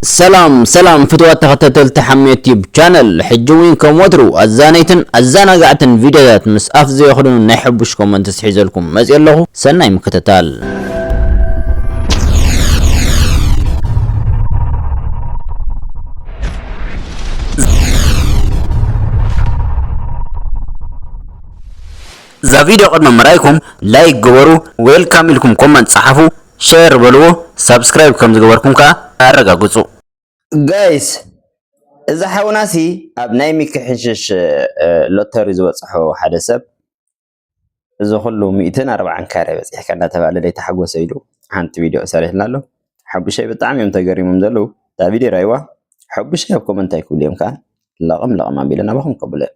ሰላም ሰላም ፍትዋት ተኸታተልቲ ሓሜት ዩቲዩብ ቻነል ሕጂ እውን ከም ወትሩ ኣዛነይትን ኣዘናጋዕትን ቪድዮታት ምስ ኣፍ ዘየኽድኑ ናይ ሕቡሽ ኮመንት ስሒዘልኩም መፅእ ኣለኹ ሰናይ ምክትታል እዛ ቪድዮ ቅድሚ ምርኣይኩም ላይክ ግበሩ ዌልካም ኢልኩም ኮመንት ፀሓፉ ሸር በልዎ ሳብስክራይብ ከም ዝገበርኩም ከኣ ኣረጋግጹ። ጋይስ እዚ ሓውናሲ ኣብ ናይ ሚኪ ሕንሽሽ ሎተሪ ዝበጽሖ ሓደ ሰብ እዚ ኩሉ ሚእትን ኣርብዓን ካሬ በጺሕካ እንዳተባለ ዘይተሓጎሰ ኢሉ ሓንቲ ቪድዮ ሰሪሕልና ኣሎ ሓቡሸይ ብጣዕሚ እዮም ተገሪሞም ዘለዉ እታ ቪድዮ ራይዋ ሓቡሸይ ኣብ ኮመንት ኣይክብሉ እዮም ከኣ ለቕም ለቕም ኣቢለ ናባኹም ከብሉ እዮም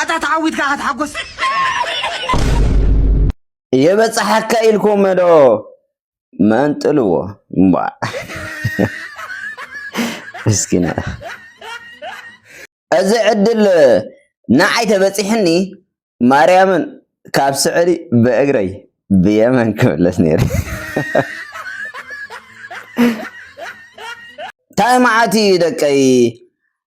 ኣታ ተዓዊትካ ኢኻ ተሓጎስ የበፅሓካ ኢልኩም ዶ መንጥልዎ ምስኪና እዚ ዕድል ንዓይ ተበፂሕኒ ማርያምን ካብ ስዕሊ ብእግረይ ብየመን ክምለስ ነይረ ታይ መዓት እዩ ደቀይ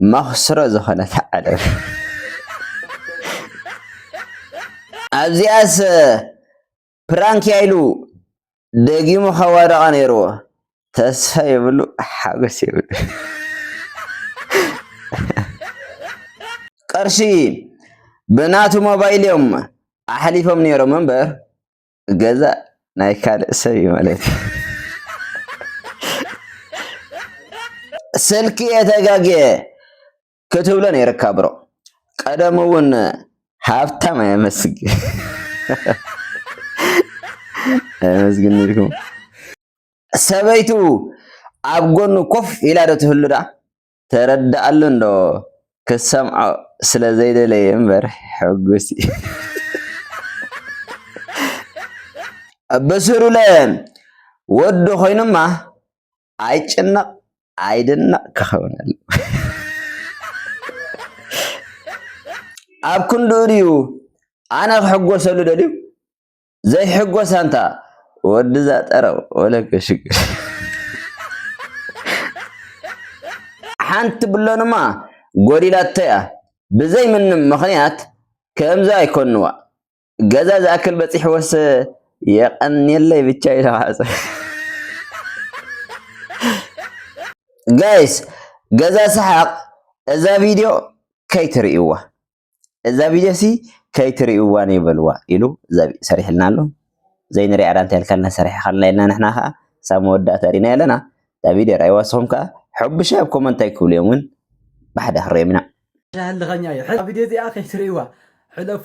መኽስሮ ዝኾነት ዓለም ኣብዚኣስ ፕራንክ እያ ኢሉ ደጊሙ ከዋደቓ ነይርዎ። ተስፋ የብሉ ሓጎስ የብሉ ቅርሺ ብናቱ ሞባይል እዮም ኣሕሊፎም ነይሮም እምበር ገዛ ናይ ካልእ ሰብ እዩ ማለት እዩ። ስልኪ እየ ተጋግየ ክትብሎ ነይርካ ብሮ ቀደም እውን ሃብታም ኣየመስግ ኣየመስግን ነይርኩም ሰበይቱ ኣብ ጎኑ ኮፍ ኢላ ዶ ትህሉ ዳ ተረድኣሉ እንዶ ክትሰምዖ ስለ ዘይደለየ እምበር ሕጉስ እዩ። በስሩለ ወዱ ኮይኑማ ኣይጭነቕ ኣይድነቕ ክኸውን ኣሎ ኣብ ክንድኡ ድዩ ኣነ ክሕጎሰሉ ደልዩ ዘይሕጎስ ኣንታ ወድዛ ጠረው ወለገ ሽግር ሓንቲ ብሎንማ ጎዲላቶያ ብዘይ ምንም ምኽንያት ከምዚ ኣይኮንዋ ገዛ ዝኣክል በጺሕዎስ የቀንየለይ ብቻ ይለዋዕጽ ጋይስ ገዛ ሰሓቅ እዛ ቪድዮ ከይትርእይዋ እዛ ቪድዮሲ ከይትሪእዋ ነይ በልዋ ኢሉ ሰሪሕልና ኣሎ ዘይንሪኣ ዳኣ እንታይ ኢልካልና ሰሪሕኻልና ኢልና ንሕና ከኣ ክሳብ መወዳእታ ሪእና ኣለና እታ ቪድዮ ርኣይዋ ንስኹም ከኣ ሕቡሻይ ኣብ ኮመንት እንታይ ክብሉ እዮም እውን ብሓደ ክንሪኦም ኢና ዳህልኸኛ እዩ ሕዚ ቪድዮ እዚኣ ከይትሪእዋ ሕለፉ።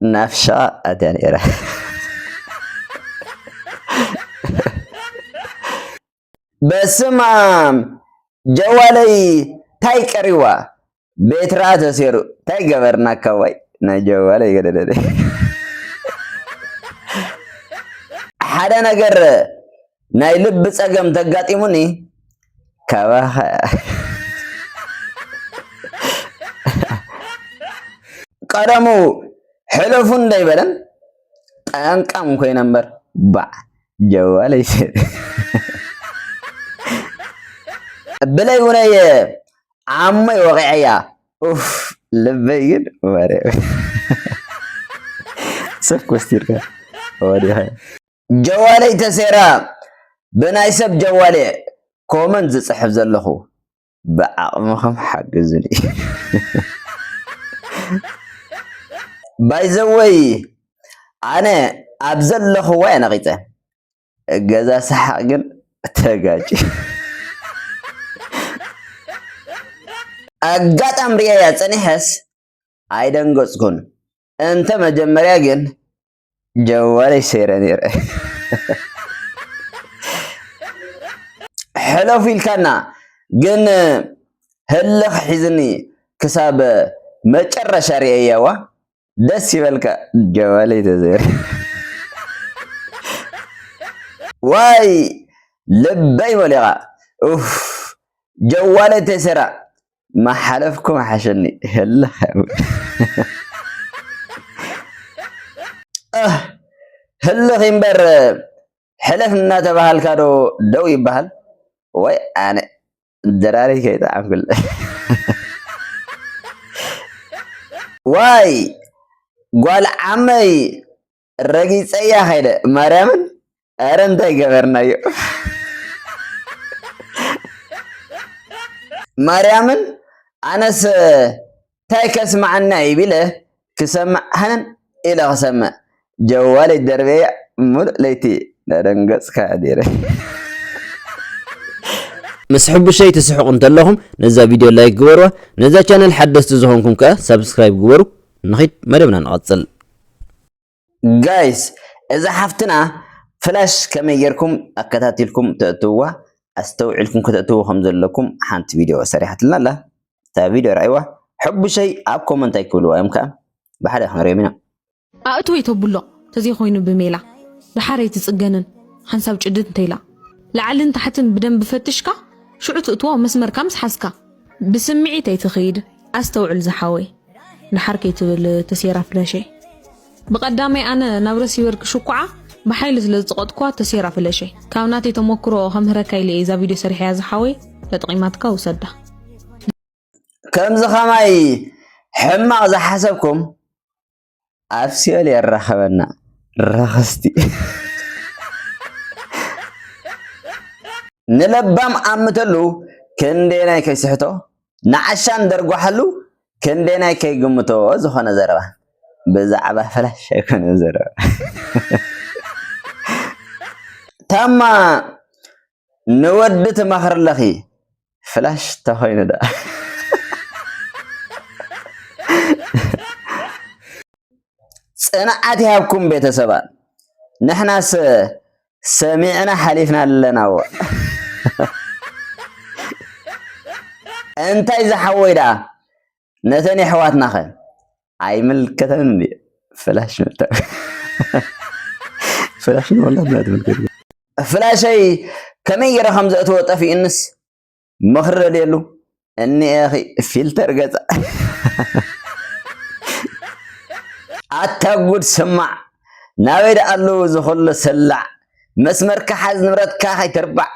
ናፍሻ ኣትያ ነይራ በስማም ጀዋለይ ታይ ቀሪዋ ቤትራ ተሴሩ ታይ ገበርና ካዋይ ናይ ጀዋለይ ገደደደ ሓደ ነገር ናይ ልቢ ጸገም ተጋጢሙኒ ካባኻ ቀደሙ ሕለፉ እንዳይበለን ጠንቃም ኮይነ እምበር ባዕ ጀዋለይ ብለይ ውነየ ዓሞይ ወቂዐያ ኡፍ ልበይ ግን ወረ ሰብ ኮስቲርካ ወዲኻ ጀዋለይ ተሴራ ብናይ ሰብ ጀዋልየ ኮመንት ዝፅሕፍ ዘለኹ ብዓቕምኹም ሓግዙኒ። ባይዘወይ ኣነ ኣብ ዘለኹዋ እየ ነቒፀ እገዛ ሰሓቕ ግን ተጋጭ ኣጋጣም ሪኤያ ፀኒሐስ ኣይደንገፅኩን እንተ መጀመርያ ግን ጀዋነይ ሰይረ ነይረ ሕለፉ ኢልካና ግን ህልኽ ሒዝኒ ክሳብ መጨረሻ ርእየዋ ደስ ይበልካ ጀዋለይ ተዘይረ ዋይ ልበይ መሊኻ ኡፍ ጀዋለይ ተሰራ ማሓለፍኩ ምሓሸኒ ህልኽ እህ ህልኽ ይምበር ሕለፍ እናተባሃልካ ዶ ደው ይባሃል ወይ ኣነ ደራሪ ከይጠዓምኩለ ዋይ ጓል ዓመይ ረጊፀያ ከይደ ማርያምን ኧረ እንታይ ገበርናዮ ማርያምን ኣነስ እንታይ ከስማዓና እዩ ቢለ ክሰምዕ ሃነን ኢለ ክሰምዕ ጀዋለይ ደርበያ ሙሉእ ለይቲ ዳደንገፅካ ኣዲረ ምስ ሕቡሸይ ትስሕቁ እንተለኹም ነዛ ቪድዮ ላይክ ግበርዋ ነዛ ቻነል ሓደስቲ ዝኾንኩም ከኣ ሳብስክራይብ ግበሩ ንኺድ መደብና ንቐጽል ጋይስ እዛ ሓፍትና ፍላሽ ከመይ ጌርኩም ኣከታቲልኩም ተእትውዋ ኣስተውዒልኩም ከተእትውዎ ከም ዘለኩም ሓንቲ ቪድዮ ሰሪሓትልና ኣላ እታ ቪድዮ ርኣይዋ ሕቡሸይ ኣብ ኮመንት ኣይክብልዋ እዮም ከኣ ብሓደ ክንሪኦም ኢና ኣእትወይ ተብሎ ተዘይኮይኑ ብሜላ ደሓር ኣይትጽገንን ሓንሳብ ጭድድ እንተኢላ ላዕልን ታሕትን ብደንቢ ፈትሽካ ሽዑ ትእትዎ መስመርካ ምስ ሓዝካ። ብስምዒት ኣይትኺድ ኣስተውዕል ዝሓወይ ድሓር ከይትብል ተሴራ ፍለሸይ ብቀዳመይ ኣነ ናብ ረሲቨር ክሽኩዓ ብሓይሊ ስለ ዝጸቀጥኩዋ ተሴራ ፍለሸይ ካብ ናተይ ተሞክሮ ከምህረካ ኢለ እየ እዛ ቪድዮ ሰሪሐያ ዝሓወይ ተጠቂማትካ ውሰዳ ከምዚ ከማይ ሕማቕ ዝሓሰብኩም ኣብ ሲኦል የራኸበና ረኸስቲ ንለባም ኣምተሉ ክንደየናይ ከይስሕቶ ንዓሻን ደርጓሓሉ ክንደየናይ ከይግምቶ ዝኾነ ዘረባ ብዛዕባ ፈላሽ ኣይኮነ ዘረባ ታማ ንወዲ ትመኽርለኺ ፍላሽ ተኾይኑ ዳ ጽንዓት ይሃብኩም ቤተሰባት ንሕናስ ሰሚዕና ሓሊፍና ኣለናዎ እንታይ ዝሓወይ ደኣ ነተን የሕዋትና ከ ኣይምልከተንን እንድዩ ፍላሽ ፍላሽ ንወላድና ትምልከት ፍላሸይ ከመይ ገይረ ከም ዘእትዎ ጠፊኡንስ ምኽሪ ደልየሉ እኒኤኺ ፊልተር ገፀ ኣታ ጉድ ስማዕ ናበይ ደኣሉ ዝኹሉ ስላዕ መስመርካ ሓዝ ንብረትካ ከይትርባዕ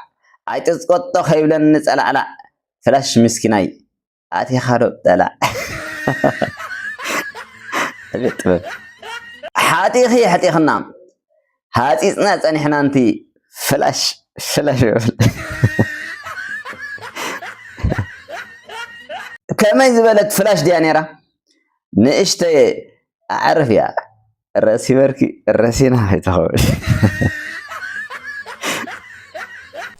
ኣይጥፅቆጦ ከይብለኒ ፀላዕላዕ ፍላሽ ምስኪናይ ኣቲኻ ዶ ጠላዕ ዕቤት ጥበብ ሓጢኺ የሕጢኽና ሃፂፅና ፀኒሕና እንቲ ፍላሽ ፍላሽ ይብል ከመይ ዝበለት ፍላሽ ድያ ነይራ ንእሽተይ ኣዕርፍ እያ ርእሲ በርኪ ረሲና ይተኸበ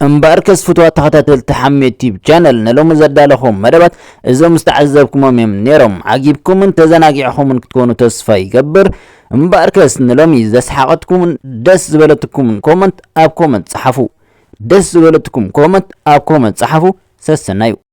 እምበኣርከስ ፍትዋ ተኸታተልቲ ሓሜት ቲብ ቻነል ንሎሚ ዘዳለኹም መደባት እዞም ዝተዓዘብኩሞም እዮም ነይሮም ዓጊብኩምን ተዘናጊዕኹምን ክትኮኑ ተስፋ ይገብር እምበኣርከስ ንሎሚ ዘስሓቐትኩምን ደስ ዝበለትኩምን ኮመንት ኣብ ኮመንት ጸሓፉ ደስ ዝበለትኩም ኮመንት ኣብ ኮመንት ጸሓፉ ሰሰናዩ